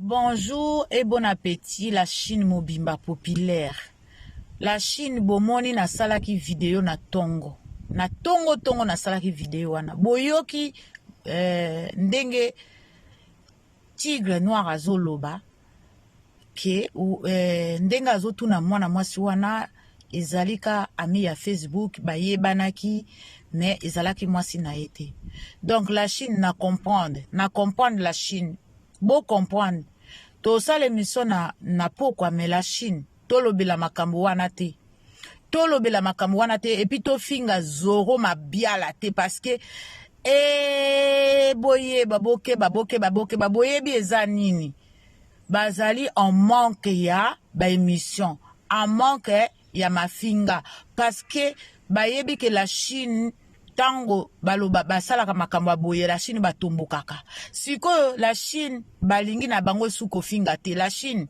Bonjour et bon appétit la Chine mobimba populaire. La Chine bomoni nasalaki video na tongo. Na tongo tongo nasalaki video wana. Boyoki euh, ndenge tigre noir azoloba ke eh, ndenge azotuna mwana mwasi wana ezali ka ami ya facebook bayebanaki mais ezalaki mwasi na ye te donc la chine na comprendre na comprendre la chine bo comprendre tosala emission na, na pokwa mais la chine tolobela makambo wana te tolobela makambo wana te epuis tofinga zoro mabiala te parce que e boyeba bokeba bokeba bokeba boyebi eza nini bazali en manque ya ba emission en manque ya mafinga parce que bayebi que la chine ntango baloba basalaka makambo ya boye la chine batombokaka sikoyo la chine balingi na bango esu kofinga te la chine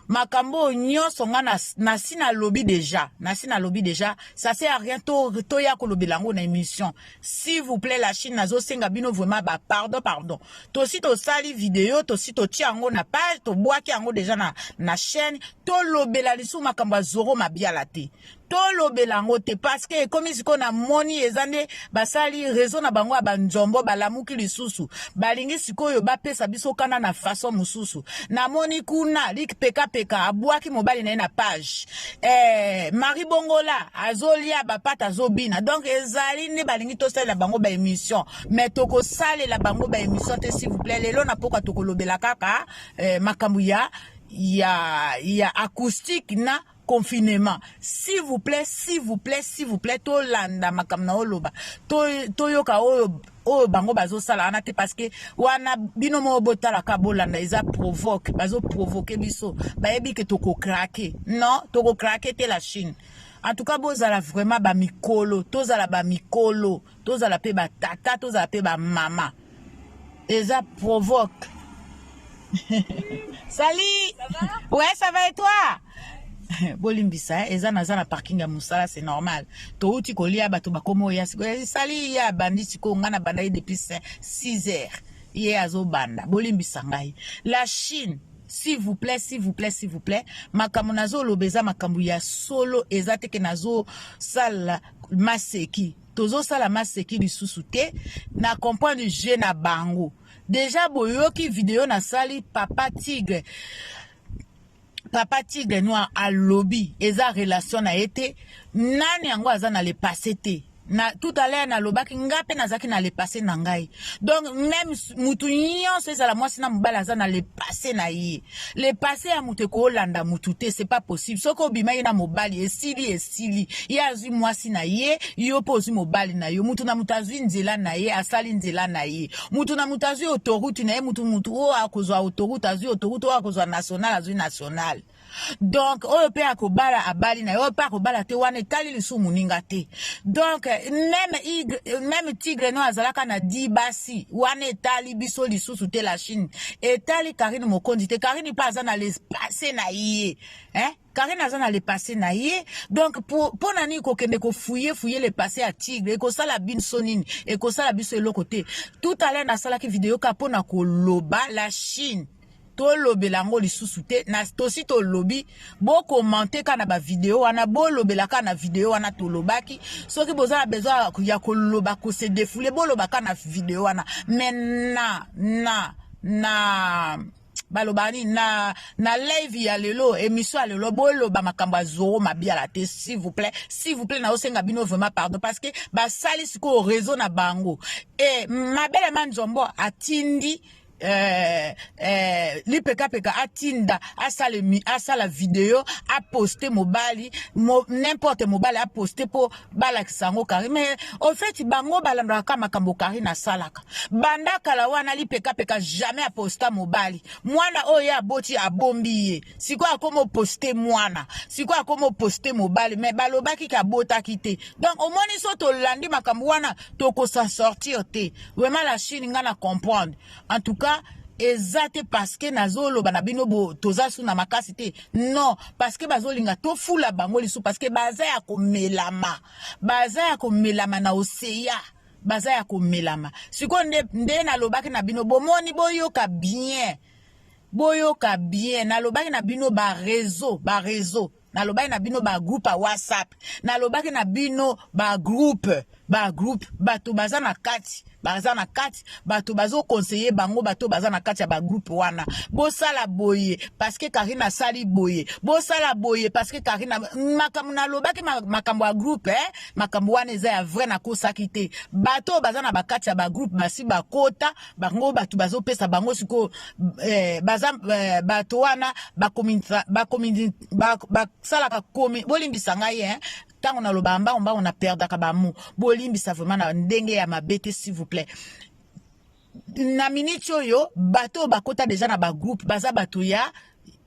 makambo oyo nyonso nga nasi nalobi deja nasi nalobi deja ça se a rien toya to kolobela yango na émission s'il vous plaît la chine nazosenga bino vraiment ba pardon pardon tosi tosali video tosi totia yango na page tobwaki yango deja na, na chaîne tolobela lisusu makambo ya zoro mabiala te tolobela yango te parceke ekomi sikoyo namoni eza nde basali rezo na bango ya banzombo balamuki lisusu balingi sikoyo bapesa biso kanda na faso mosusu namoni kuna likpekapeka abwaki mobali na ye na page eh, marie bongola azolia bapata azobina donc ezali nde balingi tosalela bango baémission mais tokosalela bango baémission te s'il vous plaît lelo na poka tokolobela kaka eh, makambo ya ya ya acoustique na confinement s'il vous plaît s'il vous plaît s'il vous plaît tolanda makambo na oloba toyoka to oyo oyo bango bazosala wana te parceke wana bino moko botalaka bolanda eza provoque bazoprovoke biso bayebi ke tokokrake non tokokrake te la chine en tout cas bozala vraiment bamikolo tozala bamikolo tozala mpe batata tozala mpe bamama eza provoque sali ouais ça va et toi bolimbisa eh, eza naza na parking ya mosala c'est normal touti kolia bato bakoma oya sikoyo esali ye abandi sikoyo ngai nabanda ye depuis 6 heures ye azobanda bolimbisa ngai la chine s'il vous plaît s'il vous plaît s'il vous plaît makambo nazoloba eza makambo ya solo eza te ke nazosala maseki tozosala maseki lisusu te na comprendre je na bango deja boyoki video nasali papa tigre papa tigre noir alobi eza relation na ye te nani yango aza na le passé te na tout à l'heure nalobaki ngai mpe nazalaki na le passé na ngai donc meme motu nyonso ezala mwasi na mobali aza na le passé na ye le passé ya motu ekoolanda motu te c'est pas possible soki obima ye na mobali esili esili ye azwi mwasi na ye yo mpe ozwi mobali na yo motu na motu azwi nzela na ye asali nzela na ye mutu na mutu azwi autoroute na ye mutu mutu oyo akozwa autoroute azwi autoroute oyo akozwa national azwi national donc oyo mpe akobala abali na ye oyo mpe akobala te wana etali lisusu moninga te donc meme, igre, meme tigre no azalaka na di basi wana etali biso lisusu te la chine etali karine mokonzi te karine mpe aza na lespase na ye eh? Karine aza na le passé na ye donc mpo na nini kokende kofuye fuye le passé ya tigre ekosala binso nini ekosala biso eloko te tout à l'heure nasalaki video ka mpo na koloba la chine tolobela yango lisusu te na tosi tolobi bokomante kaka na bavideo wana bolobela kaka na video wana tolobaki soki boza na besoin ya koloba kose defoule boloba kaka na video wana me na na na baloba nini na na live ya lelo emission ya lelo boloba makambo ya zoro mabiala te s'il vous plaît s'il vous plaît naosenga bino vraiment pardon parce que basali sikoyo réseau na bango e mabele manzombo atindi eh, eh, lipekapeka atinda asala, asala video aposte mobali mo, n'importe mobali aposte mpo balakisa yango kari me ofeti bango balandaka makambo kari nasalaka banda kala wana lipekapeka jamais aposta mobali mwana oyo ye aboti abombi ye sikoyo akoma oposte mwana sikoyo akoma oposte mobali me balobaki ke abotaki te donc omoni so tolandi makambo wana tokosa sortir te vraiment la chine ngai na comprendre en tout cas eza te parceke nazoloba na bino bo toza su na makasi te non parceke bazolinga tofula bango lisusu parceke baza ya komelama baza ya komelama na oseya baza ya komelama sikoyo nde, nde nalobaki na bino bomoni boyoka bien boyoka bien nalobaki na bino bareseau bareseau nalobaki na bino bagroupe ya whatsapp nalobaki na bino bagroupe bagroupe bato baza na kati baza na kati bato bazokonseye bango bato baza na kati ya bagroupe wana bosala boye parceke karine asali boye bosala boye parceke karine makambo nalobaki makambo ya groupe eh? makambo wana eza ya vrai nakosaki te bato oyo baza na bakati ya bagroupe basi bakota bango bato bazopesa bango sikoyo eh, baza eh, bato wana basalaka komi bolimbisa ngai eh, ntango nalobaka mbango mbango na perdaka bamo bolimbisa vraiment na ndenge ya mabe te s'il vous plaît na miniti oyo bato oyo bakota deja na bagroupe baza bato ya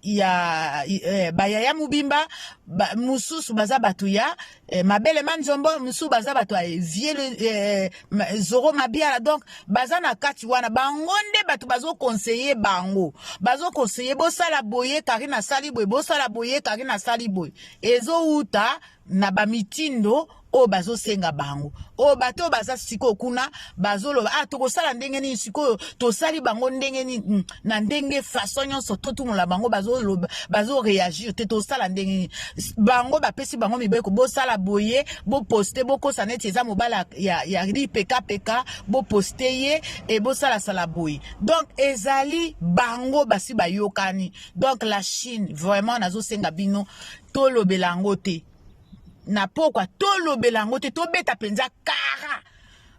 ya eh, bayaya mobimba ba, mosusu baza bato ya eh, mabele manzombo mosusu baza bato ya vieux eh, zoro mabiala donc baza na kati wana bango nde bato bazokonseye bango bazokonseye bosala boye karine asali boye bosala boye karine asali boye ezowuta na bamitindo oyo bazosenga bango oyo bato oyo baza sikoyo kuna bazoloba ah tokosala ndenge nini sikoyo tosali bango ndenge nini hmm, na ndenge façon nyonso totumola bango bazoloba bazoreagir te tosala ndenge nini bango bapesi bango mibeko bosala boye boposte bokosa neti eza mobala ya, ya lipekapeka boposte ye e bosalasala boye donc ezali bango basi bayokani donc la chine vraiment nazosenga bino tolobela yango te na pokwa tolobela yango te tobeta mpenza kara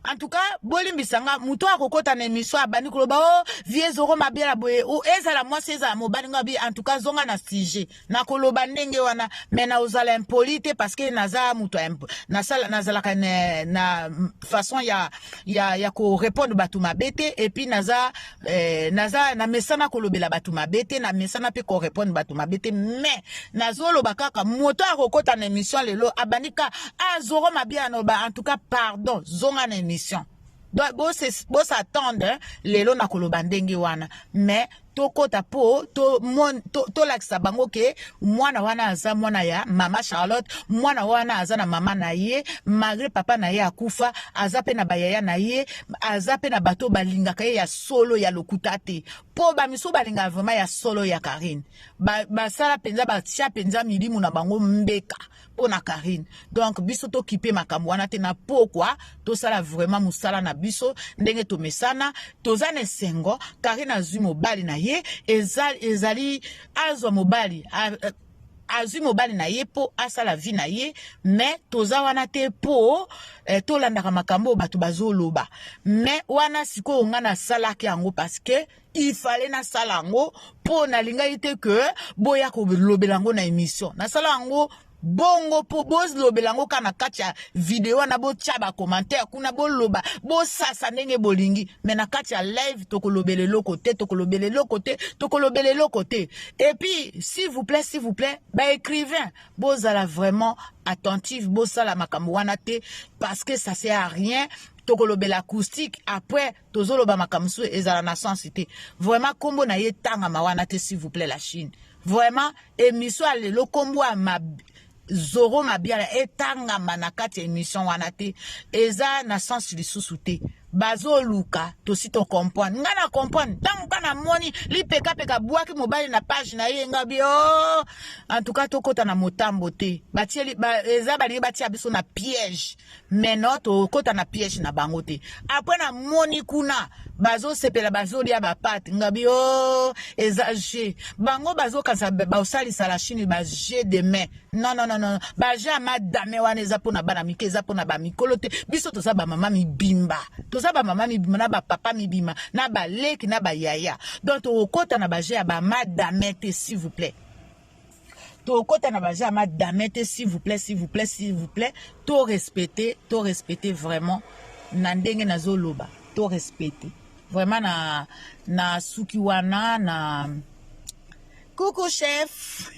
en tout cas bolimbisa nga moto oyo akokɔta na émission abandi koloba o oh, vie zoro mabiala boye o oh, ezala mwasi ezala mobali nga bi en tout cas zonga na sujet nakoloba ndenge wana mais na ozala impoli te parce que naza moto nasala nazalaka na, na façon ya ya, ya korépondre bato mabe te epuis naza eh, naza na mesana kolobela bato mabe te na mesana mpe korepondre bato mabe te mais nazoloba kaka moto akokota na émission lelo abandi ka azoro ah, mabe anoba en tout cas pardon zonga na émission donc bosatendre hein, lelo na koloba ndenge wana mais tokota mpo tolakisa to, to bango ke mwana wana aza mwana ya mama charlotte mwana wana aza na mama na ye malgre papa na ye akufa aza mpe na bayaya na ye aza mpe na bato balingaka ye ya solo ya lokuta te mpo bamisu balingaka vraimen ya solo ya karine basala ba mpenza batya mpenza milimu na bango mbeka mpo na karine donk biso tokipe makambo wana te na pokwa tosala vraimen mosala na biso ndenge tomesana toza na esengo karine azwi mobali na ye eza, ezali azwa mobali a, a, azwi mobali na ye mpo asala vie na ye me toza wana te mpo eh, tolandaka makambo oyo bato bazoloba me wana sikoyo ngai nasalaki yango parceke ifale nasala yango mpo nalingaki te ke boya kolobela yango na emission nasala yango bongo mpo bolobela yango kaka na kati ya video wana botya bacommentaire kuna boloba bosasa ndenge bolingi me na kati ya live tokolobela eloko te tokolobela eloko te tokolobela eloko te Et puis, s'il vous plaît, s'il vous plaît, bah écrivain, bozala vraiment attentif, bosala makambo wana te, parce que ça sert à rien, tokolobela acoustique après tozoloba makambo mosusu ezala na sens te vraiment nkombo na ye etangama wana te s'il vous plaît la chine vraiment émission ya lelo nkombo ya zoro mabiala etangama na kati ya emission wana te eza na sens lisusu te bazoluka tosi tocomprendre ngai na comprendre ntango ka namoni lipekapeka bwaki mobali na page na ye ngai bi o oh! en tout cas tokɔta na motambo te batie ba, eza balingi batia biso na piège mais no tokota na piège na bango te après na moni kuna bazosepela bazolia bapate ngabi o oh, eza je bango bazokanisa baosalisa la chine ba je de main non non non non ba je ya madame wana eza mpo na bana mike eza mpo na bamikolo te biso toza bamama mibimba toza bamama mibimba na bapapa mibimba na baleki na bayaya donc tokokota na baje ya bamadame te s'il vous plaît tokota na baza ma dame te s'il vous plaît s'il vous plaît s'il vous plaît to respecter to respecter vraiment na ndenge nazoloba to respecter vraiment na na suki wana na coucou chef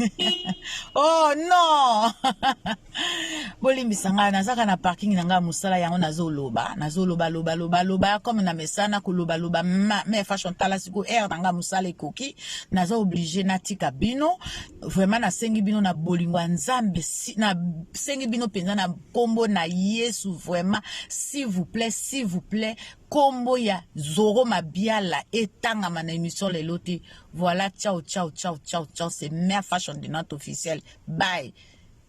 oh non bolimbisa ngai nazaka na parking na ngai mosala yango nazoloba nazoloba loba loba loba comme na mesana koloba loba me fashion tala siko aire na ngai mosala ekoki naza oblige natika bino vraiment nasengi bino na bolingo ya nzambe nasengi bino mpenza na nkombo na yesu vraiment s'il vous plaît s'il vous plaît nkombo ya zoro mabiala etangama na émission lelo te voilà ciao ciao ciao ciao ciao c'est mère fashion de notre officiel bye